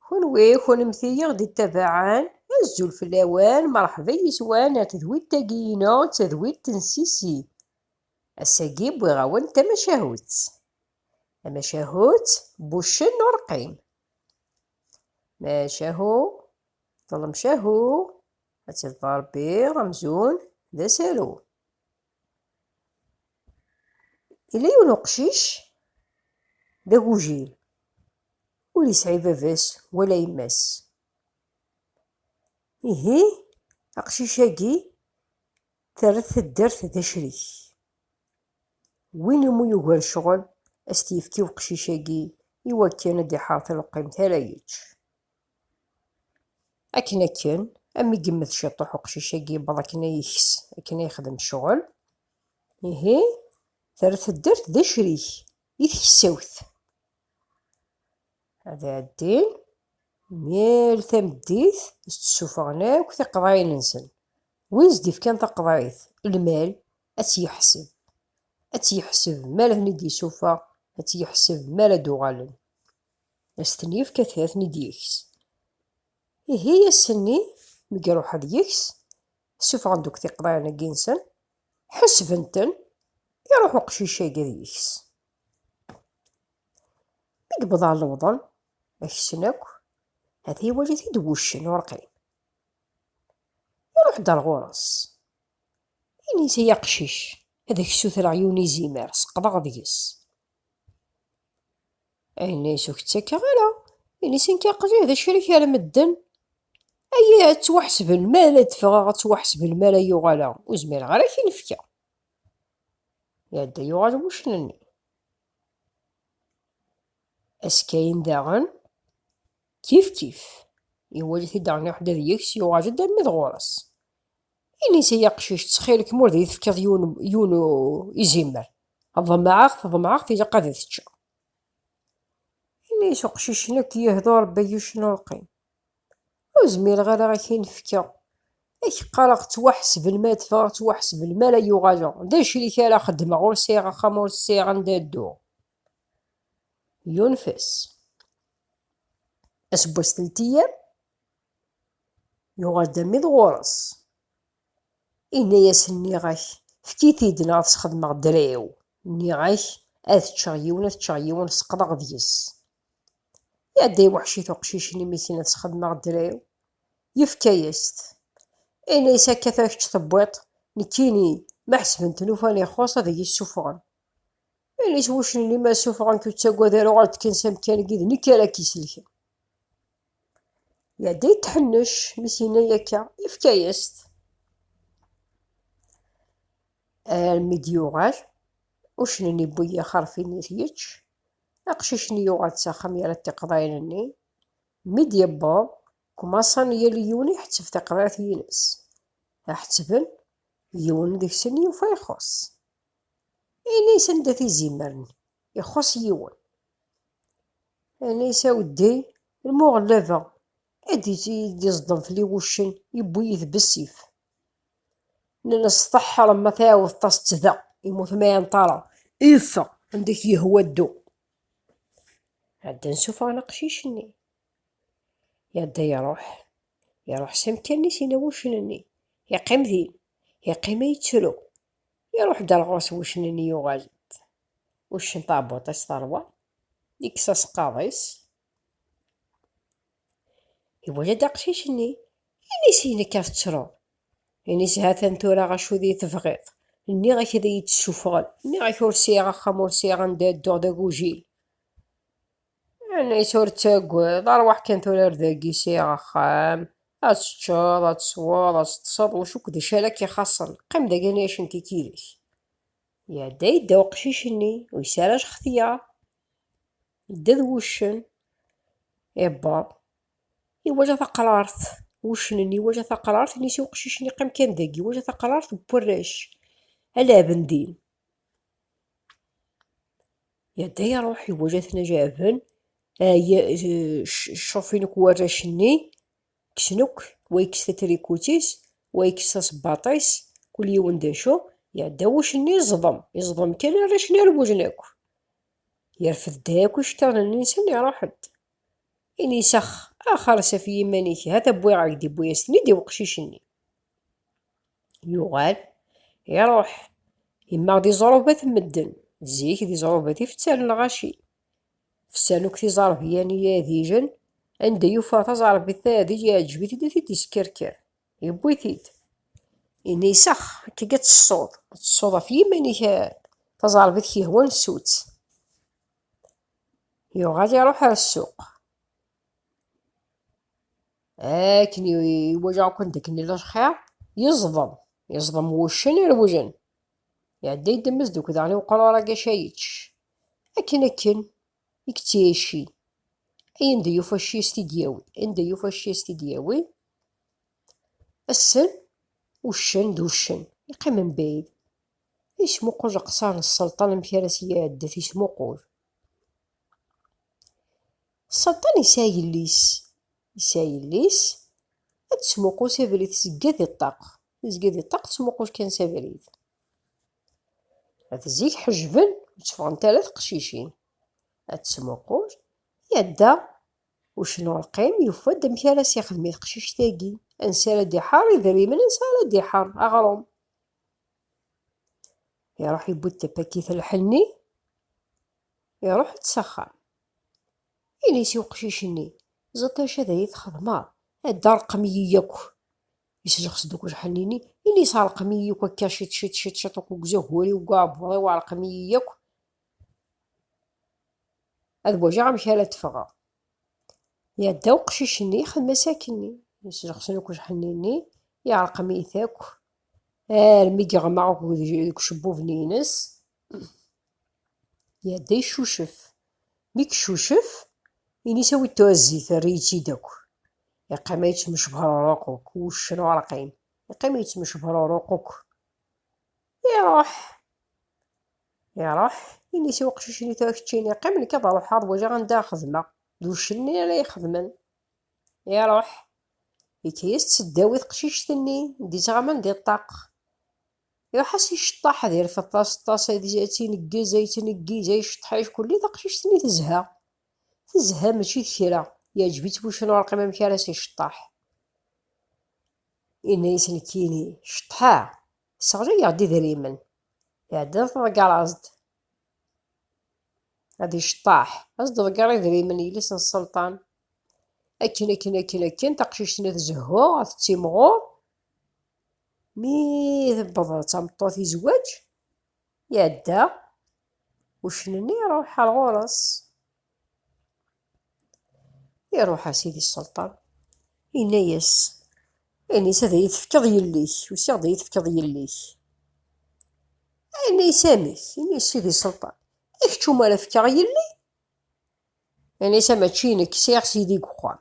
Kunwi, kunemti i ɣ-d-ittabaɛen, azul fell-awen, merḥba yis-wen ar tedwilt-agi-inu, d tadwilt n Sisi. Ass-agi wwiɣ-awen-d tamacahut. Tamacahut n wuccen n ureqqim. Macahu, ḍlem cahu, ad tt-iḍfer Rebbi amzun d asaru. Yella yiwen uqcic d agujil, ur yesɛi baba-s wala yemma-s. Ihi aqcic-agi terra-t taddart d acrik. Win umi yugar ccɣel, ad as-t-yefk i uqcic-agi iwakken ad d-iḥerr taleqqimt ara yečč. Akken akken, am i yemmet ciṭuḥ uqcic-agi yewweḍ akken a yeks, akken a yexdem ccɣel, ihi terra taddart d acrik i tkessawt. Ad ɛeddin yal tameddit ad s-d-ssufɣen akk tiqeḍɛin-nsen. Win s-d-ifkan taqeḍɛit, lmal, ad tt-yeḥseb. Ad tt-yeḥseb mi ara ten-id-yessufeɣ, ad tt-yeḥseb mi ara d-uɣalen. Ad s-ten-yefk ad ten-id-yeks. Ihi ass-nni mi iruḥ ad yeks, ssufɣen-d akk tiqḍiɛin-agi-nsen, ḥesben-ten, iruḥ uqcic-agi ad yeks. Mi yewweḍ ɣer lewḍen, aksen akk, ata iwali-t-id wuccen ur qim. Iruḥ-d ar ɣur-s, ini-s ay aqcic, ad ak-ssutreɣ yiwen izimer, seqḍeɣ deg-s. Ini-s ur k-ttakeɣ ara. Ini-s nekk aql-i d acrik ar medden. Aya ad ttwaḥesben mi ara d-ffɣeɣ, ad ttwaḥesben mi ara yuɣaleɣ. Ur zmireɣ ara ad k-in-fkeɣ. Iɛedda yuɣal wuccen-nni. Askayen daɣen, kif kif, iwali-t-id Arni Ḥdad yeks, yuɣal-d armi d ɣur-s. Ini-s i yaqcic, ttxil-k ma ur d iyi-tefkiḍ yiwen, yiwen izimer, ḍemɛeɣ-t, ḍemɛeɣ-t, ilaq ad t-ččeɣ. Ini-yas uqcic nekk yehdu Rebbi yuc n ulqim, ur zmireɣ ara ad k-in-fkeɣ, ad k-qqareɣ ttwaḥesben mi ara teffɣeɣ, ttwaḥesben mi ara yuɣaleɣ, d acrik ara xedmeɣ, ur sɛiɣ axxam, ur sɛiɣ anda ad dduɣ. Yunef-as. Aseggas teltiyam. Yuɣal-d am iḍ ɣur-s. Inna-yas, Nniɣ-ak, efk-it-id neɣ ad t-sxedmeɣ ddreɛ-iw. Nniɣ-ak, ad ččeɣ yiwen, ad ččeɣ yiwen, seqḍeɣ deg-s. Iɛedda yiweḥci-t uqcic-nni imi kkin ad t-sxedmeɣ ddreɛ-iw. Yefka-yas-t. Inna-yas, Akka tura kečč tewwiḍ-t, nekkini ma ḥesben-ten ufan ixuṣ ad iyi-ssufɣen. Inna-yas wuccen-nni, Ma ssufɣen-k ur ttagad ara, uɣal-d kan s amkan-agi d nekk ara k-isellken. Yadda yetḥennec mi s-yenna akka, yefka-yas-t. Armi d-yuɣal, ucnen yewwi ixerfin it yečč. Aqcic-nni yuɣal-d s axxam yerra-d tiqeḍɛin-nni. Mi d-yewweḍ, kmaṣan yal yiwen iḥetteb taqeḍɛit-ines. Aḥettben, yiwen deg-sen yufa ixuṣ. Ini sanda-t izimer-nni. Ixuṣṣ yiwen. Ini saweddi, lmu ɣellabeɣ. Ad d-iẓḍem fell-i wuccen, yewwi-yi d bessif. Nnan-as tḍeḥḥreḍ ma tɛiwdeḍ-as-tt da, yemmut ma iɛenṭ ara. Iffeɣ, anda i k-yehwa ddu. Ɛeddan suffɣen aqcic-nni. Iɛedda iruḥ. Iruḥ s amkan-is, yenna wuccen-nni. Iqqim din. Iqqim a yettru. Iruḥ d ar ɣur-s wuccen-nni yuɣal-d uccen taɛebbuṭ-is teṛwa, yekkes aseqqaḍ-is, iwala-d aqcic-nni, ini-s i nekk ad ttruɣ, ini-s ha-t-an tura acu d i-tebɣiḍ, nniɣ-ak ad iyi-d-ssufɣen, nniɣ-ak ur sɛiɣ axxam ur sɛiɣ anda ad dduɣ d agujil. Anect ur ttagad, rwaḥ kan tura ar dagi sɛiɣ axxam, ad teččeḍ, ad tesweḍ, ad teṭṭseḍ, ulac akk d acu ara k-ixaṣṣen, qqim dagi nni acn tikirek. Iɛedda yedda uqcic-nni, ur yesɛi ara lxetyar. Yedda d wuccen, iwweḍ, iwala taqrart, wuccen-nni iwala taqrart, inisi uqcic-nni qqim kan dagi, iwala taqrart n warrac, ala bendin, Yedda iruḥ iwala-ten a jaɛben, cṛufin akk warrac-nni, kksen akk, wa yekkes tatrikut-is, wa yekkes tasebbaṭ-is, kul yiwen d acu, iɛedda wucc-nni yeẓḍem, yeẓḍem kan arrac-nni rewwlen akk. Yerfed-d akk iceṭṭiḍen-nni-nsen iruḥ-d. Ini-as ax, ax ers af yiman-ik, ha-t-a wwiɣ-ak-d, yewwi-as-ten-id i weqcic-nni. yuɣal iruḥ yemmaɣ di ẓrubat n medden zik di ẓrubat i fettan lɣaci fettan akk tiẓerbiyan i yadijen anda yufa taẓerbit tayadij yeɛjeb-it-id ad t-id-iskerker yewwi-t-id ini isax akka ad tessuḍ ad tessuḍ ɣef yiman-ik taẓerbit k-yehwan ssutt yuɣal iruḥ ar ssuq akken iwajeɣ akk-n dakken yella lxir yeẓḍem yeẓḍem wuccen irewlen iɛedda yeddem-as deg udaɣen i uqrur agaca yečč akken akken i yettɛici ay anda yufa cci as t-id-yawi anda yufa cci as t-id-yawi assen uccen d uccen yeqqim mebɛid yesmuqul leqṣar n sselṭan amek ara s-iɛeddet yesmuqul Satan yesɛa yelli-s. Yesɛa yelli-s, ad d-tesmuqu s abrid, tezga di ṭṭaq. Tezga di ṭṭaq, tesmuqu kan s abrid. At zik ḥejben, ur tteffɣent ara teqcicin. Ad tesmuqu, iɛedda ucnu rqim, yufa-d amek ara s-ixdem i teqcict-agi. Ansi ara d-iḥar idrimen, ansi ara d-iḥar aɣrum. Iruḥ yewwi-d tapakit lḥenni, iruḥ-d s axxam. Ini-s i uqcic-nni, Ẓeṭṭ acu ad iyi-txedmeḍ, ad d-terqem-iyi yakk. Yesseǧxes-d akk lḥenni-nni, ini-s, Rqem-iyi yakk akka ciṭ ciṭ ciṭ ciṭ akk deg uzagur-iw, deg uɛebbuḍ-iw, rqem-iyi yakk, ad waǧeɣ amek ara d-ffɣeɣ. Iɛedda uqcic-nni, ixdem-as akkenni. Yesseǧxes-d akk lḥenni-nni, iɛerqem-it akk, armi geɣmaɣ akk deg ucebbub-nni-ines. Iɛedda yeccucef. Mi yeccucef, ini-s awi-d tuɛezzit, err-iyi-tt-id akk. Iqqim ad yettmecbruruq akk, wuccen urqim. Iqqim ad yettmecbruruq akk. Iruḥ. Iruḥ, ini-s i uqcic-nni tura keččini qqim, nekk ad ruḥeɣ ad waliɣ anda ara xedmeɣ. D wuccen-nni ara ixedmen. Iruḥ. Yekka-yas-d s ddaw i teqcict-nni, d-ittɣaman di ṭṭaq. Iruḥ-as iceṭṭaḥ ad iref aṭas-ṭas, ad tineggez, ad yettneggiz, ad iceṭṭeḥ ackulli, taqcict-nni tezha. Tezha mačči d kra, yeɛǧeb-itt bucnurqim amek ara as-iceṭṭeḥ. Yenna-yas nekkini, ceṭṭḥeɣ, sseɣlayeɣ-d idrimen. Iɛedda ad tḍegger-as-d. Ad iceṭṭeḥ, ad s-d-ḍegger idrimen yelli-s n sselṭan. Akken, akken, akken, akken, taqcict-nni tezhu, tettimɣur, Mi tewweḍ d tameṭṭut i zzwaǧ, iɛedda uccen-nni iruḥ ar ɣur-s. Iruḥ a sidi sselṭan, yenna-yas, ayen-is ad iyi-tefkeḍ yelli-k, usiɣ-d ad iyi-tefkeḍ yelli-k. Yenna-yas amek, yenna-yas sidi sselṭan, i kečč umi ara fkeɣ yelli? Yenna-yas mačči i nekk, sɛiɣ sidi deg uxxam,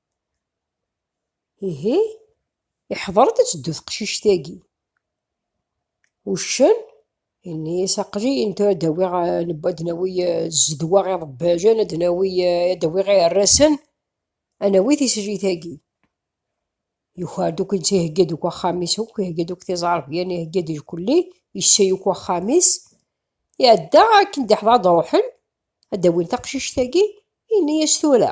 Ihi, iḥḍer-d ad teddu teqcict-agi. Uccen, yenna-yas, aql-iyi netta ad d-awiɣ, ad d-nawi zzedwa iḍebbajen, ad d-nawi, ad d-awiɣ iɛerrasen, ad nawi tislit-agi. Yuker-d akk, netta ihegga-d akk axxam-is akk, ihegga-d akk tiẓerbiyan, ihegga-d lkulli, yessay akk axxam-is. Iɛedda akken d-iḥḍer ad d-ruḥen, ad d-awin taqcict-agi, yenna-yas tura.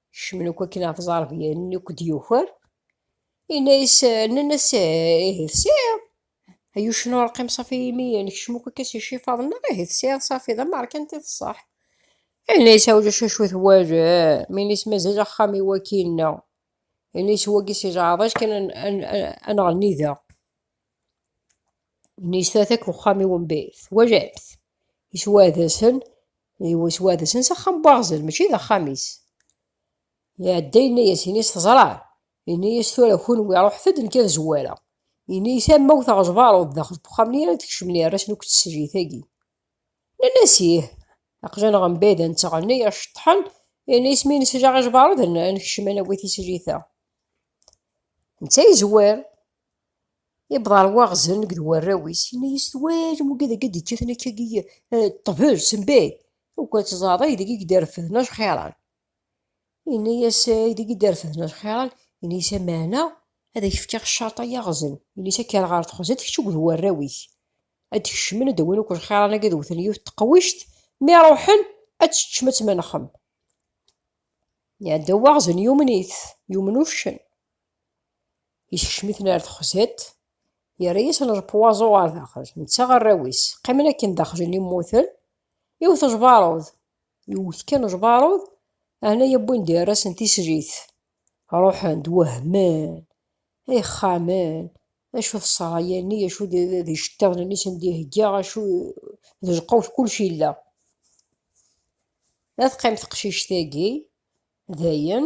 Kecmen akk akken ɣef ẓarbyen nni akk d-yuker. Inna-yas, nnan-as, ihi tesɛiḍ. Ay uccen ur qqim safi imi nekcem akk akka s icifaḍ-nneɣ, ihi tesɛiḍ safi, d ameṛkanti d ṣṣeḥ. Inna-yas, a ulac acu twalem, ini-s mazal axxam-iw akkin-nneɣ. Ini-s wagi si jaɛḍaj kan ad nɣenni da. Nisdatak uxxam-iw n bit, twajamt, iswadesen, iswadesen s axxam n waɣzen, mačči d axxam-is. Iɛedda yenna-yas, ini-yas teẓram, ini-yas tura kunwi ruḥet-d nekk ad zwareɣ. Ini-yas am ma wteɣ aẓbaṛud daxel n uxxam-nni ara d-kecmen irras-nni akked teslit-agi. Nnan-as ih, aqjan ɣer mebɛid ad nettɣenni, iceṭṭḥen, ini-yas mi nesjaɣ iẓbaṛud ad nekcem ad nawi tislit-a. Netta yezwar, Yewweḍ ɣer waɣzen deg d warraw-is, yenna-yas, Twalem wagi dagi d-ikkaten akkagi eh, ṭṭbel, sembay, akk ad tẓaḍ aydeg i d-refden ajxiran. Yenna-yas, eh, aydeg i d-refden ajxiran, yenna-yas, ameɛna ad ak-fkeɣ ccerṭ ay aɣzen, yenna-yas, ad k-rreɣ ɣer texzant kečč akked warraw-ik. Ad d-kecmen, ad d-awin akk ajxiran-agi, ad wten yiwet teqwict, mi ruḥen ad teččem, ad tmenxem. Iɛedda waɣzen, yumen-it, yumen uccen. Yeskcem-iten ar texzet, yerra-yasen lpuwaẓu ɣer daxel, netta arraw-is. Qqimen akken daxel n immuten, iwet jbaṛud. Iwet kan jbaṛud, ɛna yewwin-d irrasen tislit. Ruḥen-d, wehmen, ay xxamen, acu d ṣṣraya-nni, acu d iceṭṭiḍen-nni sen d-ihegga, acu d lqewt, kullec yella. Ad teqqim teqcict-agi, dayen.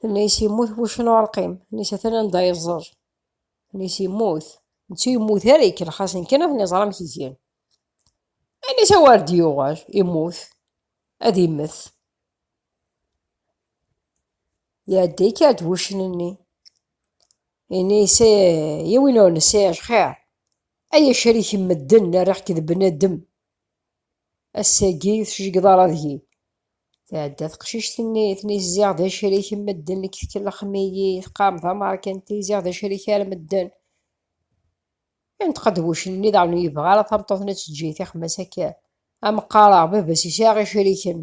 Tenna-yas yemmut wuccen ur rqim. Tenna-yas atan anda yeẓẓel. Tenna-yas yemmut. Netta ur yemmut ara, ikellex-asen kan ad ten-iẓer amek gen. Tenna-yas a wer d-yuɣal, immut, ad immet. Iɛedda ikɛed wuccen-nni. Yenna-yas ya win ur nesɛi xir, ay acrik n medden, rriɣ-k d bnadem. Ass-agi ur tejgiḍ ara deg-i. Tɛedda teqcict-nni, tennid ziɣ d acrik n medden nekk tkellxem-iyi, teqqarem tamerkanti ziɣ d acrik ar medden. Inṭeq ad wuccen-nni daɣen ur yebɣi ara tameṭṭut-nni ad teǧǧi tixem-as akka. Am qqareɣ baba-s yesɛa iciriken.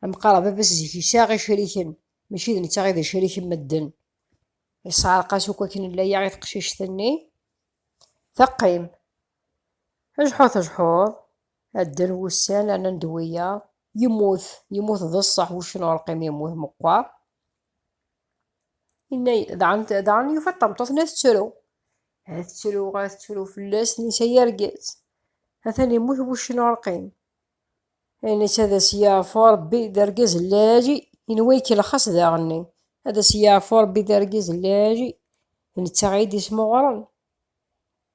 Am qqareɣ baba-s zik yesɛa iciriken, mačči d netta i d acrik n medden. Yesɛerq-as akk akken n laya i teqcict-nni, teqqim. Ajeḥḥu tejeḥḥuḍ, ad dden wussan rnan nnend wiyaḍ. Yemmut, yemmut d ṣṣeḥ wuccen ur ṛqim yemmut meqqer. Inna daɣen daɣen yufa ṭameṭṭut-nni ad tettru. Ad tettru, ad tettru fell-as nisa yargaz. Atan yemmut wuccen ur ṛqim. Nisa ad as-yeɛfu Ṛebbi d argaz n lɛali, inwa ikellex-as daɣenni. Ad as-yeɛfu Ṛebbi d argaz n lɛali, d netta i d-ismuɣren.